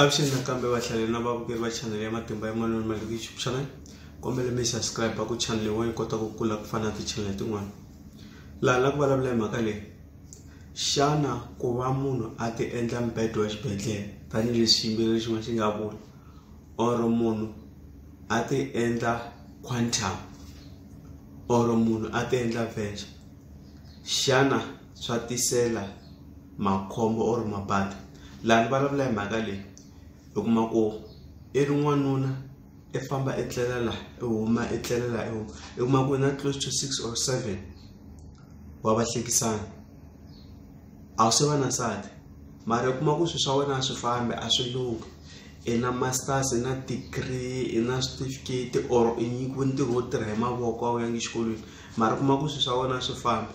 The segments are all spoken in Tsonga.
avuxeni nakambe vahlaleri na vavukeri va chanele ya matimba ya manoni ma le ku youtube channel kombele mi subscribe ku chanele yin'wana yi kota ku kula ku fana na tichanele tin'wana laha la ku vulavula hi mhaka leyi xana ku va munhu a ti endla mbedo wa xibedhlele tanihileswi xiyimbeleri xin'wana xi nga vula or munhu a ti endla quantum or munhu a ti endla venture xana swa tisela makhombo or mabadi laha ni vulavula hi mhaka leyi u kuma ku i ri n'wanuna i famba i tlela laha i huma i tlela laha i huma i kuma ku na close to six or seven wa vahlekisani a wu se va na nsati mara i kuma ku swilo swa wena a swi fambi a swi lunghi i na masters i na degree i na switifiketi or i nyikiwe ntirho wo tirha hi mavoko a wu yangi exikolweni mara u kuma ku swilo swa wena a swi fambi.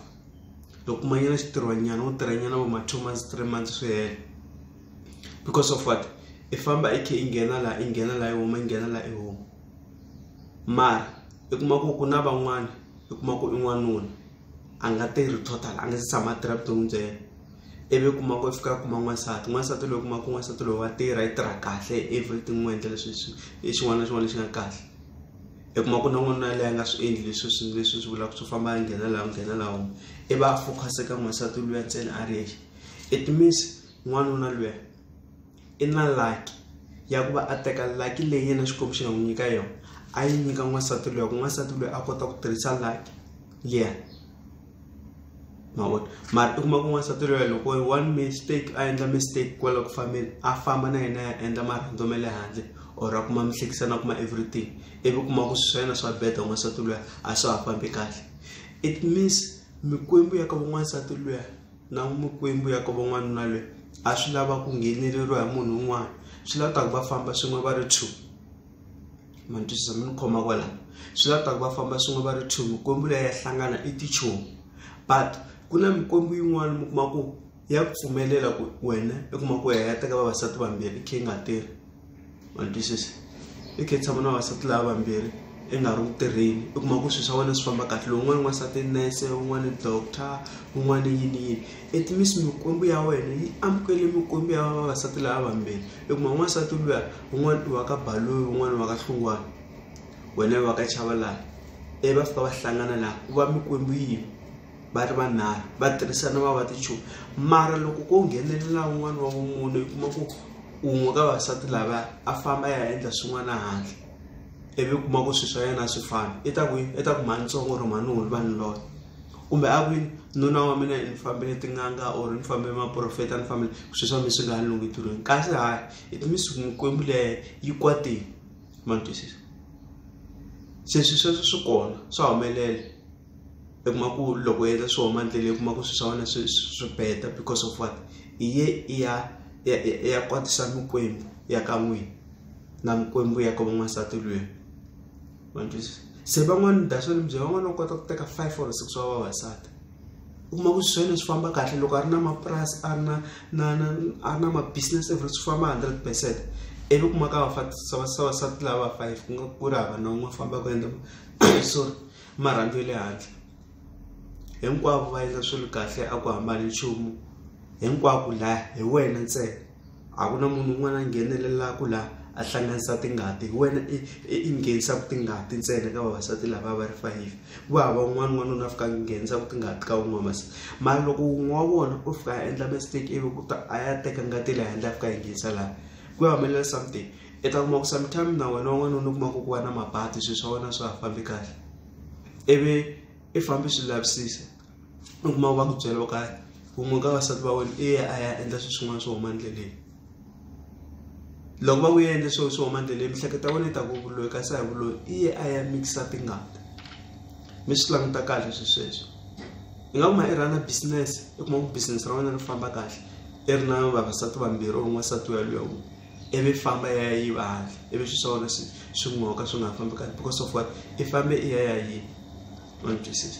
loko ma nyana xitirhwanyana u tirha nyana vo ma two months three months swi hela because of what i famba i khe i nghena laha i nghena laha i huma i nghena laha i huma mara i kuma ku ku na van'wana i kuma ku i n'wanuna a nga tirhi total a nga se tshama a tirha vuton'wini bya yena ivi i kuma ku i fika a kuma n'wansati n'wansati loyi kuma ku n'wansati loyi wa tirha i tirha kahle everything n'wi endla leswi i xin'wana na xin'wana lexi nga kahle. i kuma ku na n'wanuna yaleyo a nga swi endli leswi swi leswi swi vulaka swo famba a nghena laha nghena laha huma i va a focus eka n'wansati luya ntsena a ri yexe it means n'wanuna luya i na lucky ya ku va a teka lucky leyi yena xikwembu xi nga n'wi nyika yona a yi nyika n'wansati luya ku n'wansati luya a kota ku tirhisa lucky liya. mavona mara i kuma ku n'wansati loya loko one mistake a endla mistake kwala ku fambeni a famba na yena ya endla marhandzo ma le handle or a kuma mihlekisa na kuma everything ivi kuma ku swi swa yena swa beda n'wansati loya a swa ha fambi kahle it means mikwembu ya ka van'wansati loya na mikwembu ya ka van'wanuna loyi a swi lava ku ngheneleriwa hi munhu un'wana swi lava ku ta ku va famba swin'we va ri two. ma ni twisisa mi ni khoma kwala swi la ta ku va famba swin'we va ri two mikwembu leyi ya hlangana i tichomi but ku na mikwembu yin'wana mi kuma ku ya ku pfumelela ku wena i kuma ku ya ya teka vavasati vambirhi i khe yi nga tirhi ma ni twisisa i khe tshama na vavasati lava vambirhi i nga ri ku tirheni i kuma ku swilo swa wena swi famba kahle lowu un'wana n'wansati i nurse un'wana i doctor un'wana i yini yini it means mikwembu ya wena yi amukele mikwembu ya vavasati lava vambirhi i kuma n'wansati luya un'wana i wa ka Baloyi un'wana i wa ka Hlungwana wena i wa ka Chavalala ivi va fika va hlangana laha ku va mikwembu yini va ri vanharhu va tirhisana va va tichomi mara loko ko nghenelela un'wana wa vumune i kuma ku un'we ka vasati lava a famba ya endla swin'wana handle ivi kuma ku swi swa yena swi fana i ta ku i ta ku mhani ntsongo or mhani hulu vanhu loyo kumbe a kwini nuna wa mina ni fambile tin'anga or ni fambile maprofeta ni fambile swi swa mi swi nga ha lungi ntirhweni kasi hayi it means ku mikwembu leyi yi kwatile ma ni twisisa se swi sweswo swi kona swa humelela i kuma ku loko u endla swi huma ndlela i kuma ku swi swa wena swi swi beta because of what i ye i ya i ya kwatisa mikwembu ya ka n'wina na mikwembu ya ka van'wansati lweyi ma ni twisisa se van'wani that's why ni byela van'wani va kota ku teka five or six wa vavasati. u kuma ku swi swona swi famba kahle loko a ri na mapurasi a ri na na na a ri na ma business every swi famba hundred percent ivi u kuma ka vavasati lava five ku nga ku ri hava na un'we famba ku endla sorry marhandu ya le handle hinkwavo va endla swilo kahle a ku hambani nchumu hinkwako laya hi wena ntsena. a ku na munhu un'wana a nghenelelaka la a hlanganisa tingati hi wena i nghenisaka tingati ntsena ka vavasati lava va ri five ku hava un'wana n'wanuna a fika a nghenisa ku tingati ka wun'we masi mara loko wun'we wa vona u fika a endla mistake ivi ku ta a ya teka ngati leyi handle a fika a yi nghenisa laha ku ya humelela something i ta kuma ku sometime na wena wan'wanuna u kuma ku ku va na mabadi swilo swa wena swa ha fambi kahle ivi i fambe swi lavisisa. u kuma va ku byela ka wun'we ka vasati va wena i ya a ya endla swilo swin'wana swo huma endleleni loko va ku ya endla swilo swo huma endleleni mihleketa ya wena yi ta ku vuloyi kasi a hi vuloyi i ye a ya mikisa tingati mi swi languta kahle swi sweswo i nga kuma i rhana business i kuma ku business ra wena ri famba kahle i ri na vavasati vambirhi or n'wansati wa luya wun'we ivi famba ya ya yiva handle ivi swilo swa wena swi swi n'oka swi nga ha fambi kahle because of what i fambe i ya ya yini ma ni twisisa.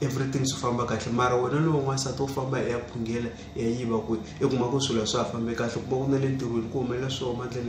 everything swi famba kahle mara wena lowu n'wansati wo famba ya phungela ya yiva ku i kuma ku swilo swa ha fambe kahle kuma ku na le ntirhweni ku humelela swo huma ndleleni